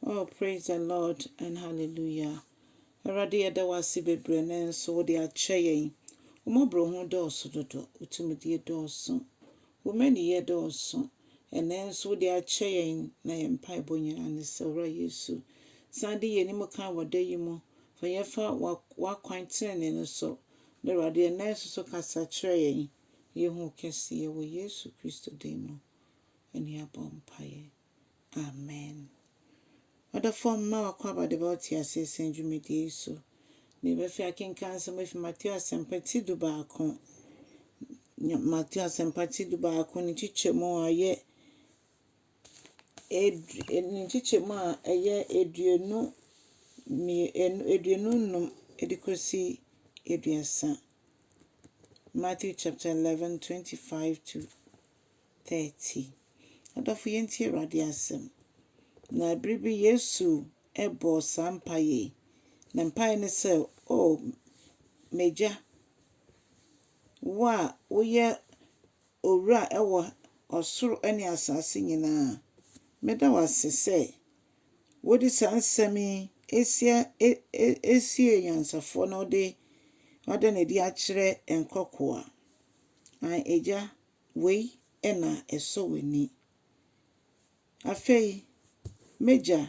Oh praise the Lord and hallelujah Awurade yɛda wo ase bebree ne nso wode akyɛ yɛn Wo mmɔborɔhunu dɔɔso dodo Wo tumidie dɔɔso Wo mmaniyɛ dɔɔso Ɛnnɛ nso wode akyɛ yɛn Na yɛn mpaebɔ nyinaa ne sɛ Owura Yesu san de yɛn anim kan wɔ da yi mu Fa yɛn fa wa- w'akwan tenenee no so Na Awurade ɛnnɛ nso so kasa kyerɛ yɛn Yɛhu wo kɛseyɛ wɔ Yesu Kristo din mu Ɛne abɔ mpaeɛ Amen. Ɔdɔfoɔ mma w'akwaaba de ba wo teaseɛ sɛn dwumadie yi so. Deɛ ɛbɛfɛ akenkan nsɛm afi Mateo asɛmpa ti du baako. Mateo asɛmpa ti du baako ne nkyekyɛmu a ɛyɛ ne nkyekyɛmu a ɛyɛ aduonu aduonu nnum de kɔsi aduasa. Matthew chapter 11, 25 to 30. Adɔfo, yɛntie Awurade asɛm. Na bere bi Yesu bɔɔ saa mpaeɛ yi. Na mpaeɛ ne sɛ, O m'Agya, wo a woyɛ owura wɔ ɔsoro ne asase nyinaa, meda wo ase sɛ wode saa nsɛm yi asia e e asiee nyansafoɔ na wode wada no adi akyerɛ nkoakoa. Aane, Agya. Wei na ɛsɔ w'ani. Afei m'agya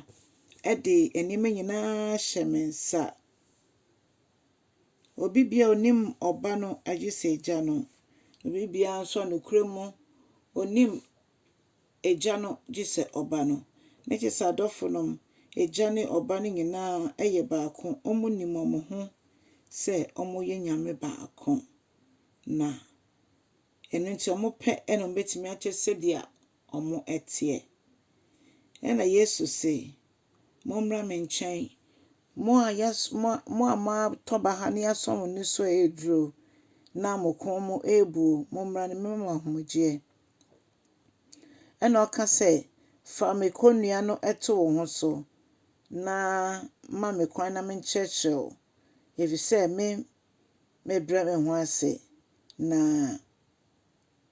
de nneɛma nyina ara hyɛ me nsa. Obi biara ɔnim ɔba no agye sɛ agya no. Obi biara nso a nokorɛ mu ɔnim agya no gye sɛ ɔba no. Ne kyerɛ sɛ adɔfo no, agya ne ɔba no nyina ara yɛ baako. Wɔnim wɔn ho sɛ wɔyɛ Nyame baako. Na. Ɛno nti, wɔpɛ na wɔbɛtumi akyɛ sɛdeɛ wɔteɛ. Ɛna Yesu se, Mommra me nkyɛn, mo a yɛas mo a mo a moatɔ baha na yɛasɔ mo ani so reduro, na mo kɔn mu rebuo, mommra na mɛma mo ahomegyeɛ. Ɛna ɔka sɛ, Fa me kɔnnua no to wo ho so, na ma me kwan na menkyerɛkyerɛ wo, ɛfiri sɛ me mebrɛ me ho ase na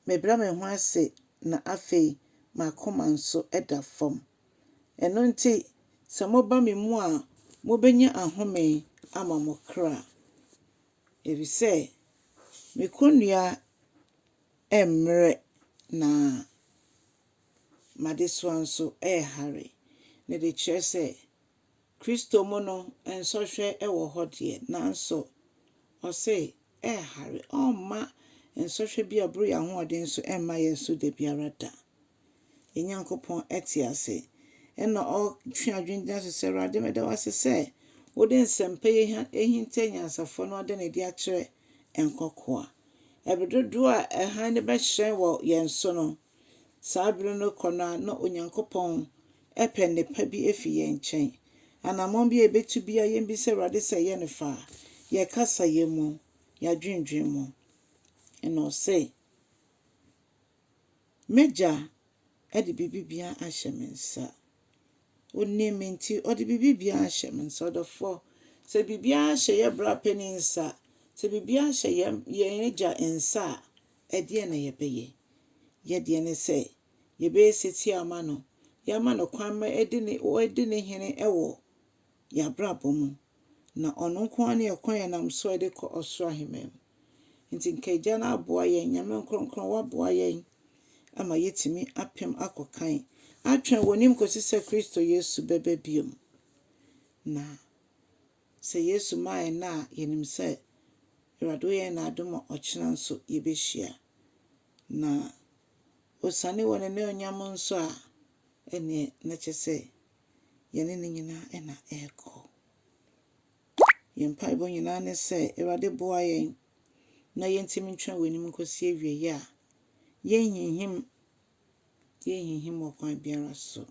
mebrɛ me ho ase na afei m'akoma nso da fam. Ɛno nti, sɛ moba me mu a, mobɛnya ahome ama mo kra, ɛfiri sɛ me kɔnnua mmrɛ na m'adesoa nso rehare. Ɛno de kyerɛ sɛ. Kristo mu no, nsɔhwɛ wɔ hɔ deɛ, nanso ɔse ɛnhare. Ɔmma nsɔhwɛ bi a ɛboro yɛn ahoɔden so mma yɛn so da biara da. Yɛn Nyankopɔn te ase. Ɛna ɔtwe adwene gyina so sɛ, Awurade, meda wo ase sɛ wode nsɛmpa yi ahinta anyansafoɔ na woada no adi akyerɛ nkokoa. Ɛberɛ dodoɔ a hann no bɛhyerɛn wɔ yɛn so no, Saa bere no rekɔ no ara, na Onyankopɔn repɛ nnepa bi afi yɛn nkyɛn. Anammɔn bi a yebetu biara, yemmisa Awurade sɛ ɛyɛ no fã, yɛn kasayɛ mu, yɛn adwennwen mu. Ɛnna ɔse, M'Agya de biribi biara ahyɛ me nsa. Onim me nti, ɔde biribi biara ahyɛ me nsa. Ɔdɔfo, sɛ biribiara hyɛ yɛn bra panyin nsa, sɛ biribiara hyɛ yɛn yɛn agya nsa a, Ɛdeɛn na yɛbɛyɛ? Yɛ deɛ ne sɛ, yɛbɛyɛ setie ama no, yɛama no kwan ma ɔdi ne ɔdi ne hene wɔ yɛn abrabɔ mu, na ɔno nko ara ne ɛkwan a yɛnam so de kɔ ɔsoro ahemman mu. Nti nka Agya no aboa yɛn, Nyame Nkorɔnkorɔn woaboa yɛn ama yɛatumi apem akɔ kan, atwɛn wɔ nim kɔsi sɛ Kristo Yesu bɛba biom, na Sɛ Yesu maa yɛn nna a, yɛnim sɛ Awurade woyɛ no adom a ɔkyena nso yɛbɛhyia. Na ɔsiane wɔ n'anuonyam nso a, ɛnneɛ na kyɛ sɛ yɛne no nyinaa na ɛrekɔ. Yɛn mpaebɔ nyinaa ne sɛ Awurade boa yɛn na yɛntim ntwɛn wɔ anim nkɔsi awieeɛ a yɛnhinhim Yennhinhim wɔ kwan biara so.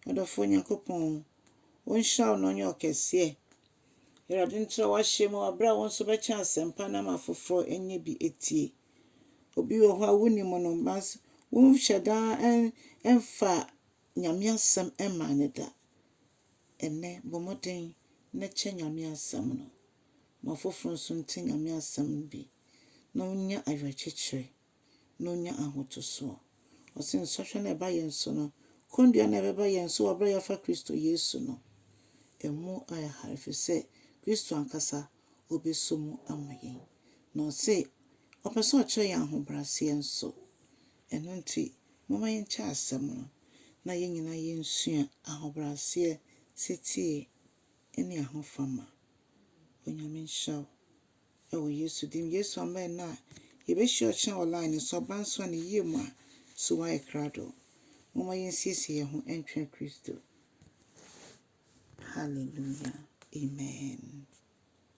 Ɔdɔfoɔ Nyankopɔn, Wo nhyira wo na ɔnyɛ ɔkɛseɛ. Awurade ntra w'ahyɛ mu wɔ berɛ a wo nso bɛkyɛ asɛmpa no ama afoforɔ anya bi atie. Obi wɔ hɔ a wonim no, nanso wonhyɛ da mfa Nyame asɛm mmaa no da. Ɛnnɛ, bɔ mmɔden na kyɛ Nyame asɛm no. Ma afoforɔ nso nte Nyame asɛm no bi na wɔnya ayerɛkyekyerɛ. na onya ahotoso. Ɔse, Nsɔhwɛ no a ɛba yɛn so no, kɔndua no a ɛbɛba yɛn so wɔ bere a yɛafa Kristo Yesu no, ɛmu ayɛ hare efisɛ Kristo ankasa obeso mu ama yɛn. Na ɔse, ɔpɛ sɛ ɔkyerɛ yɛn ahobrɛaseɛ nso. Ɛno nti, momma yɛnkyɛ asɛm no na yɛn nyinaa yensua ahobrɛaseɛ, setie, ne ahofama. Onyame nhyira wo. Wɔ Yesu din. Yesu amen na yɛbɛhyia ɔkyena wɔ line no so aba nso a ne yie mu a so woayɛ krado? Momma yɛnsiesie yɛn ho ntwɛn Kristo. Hallelujah. Amen.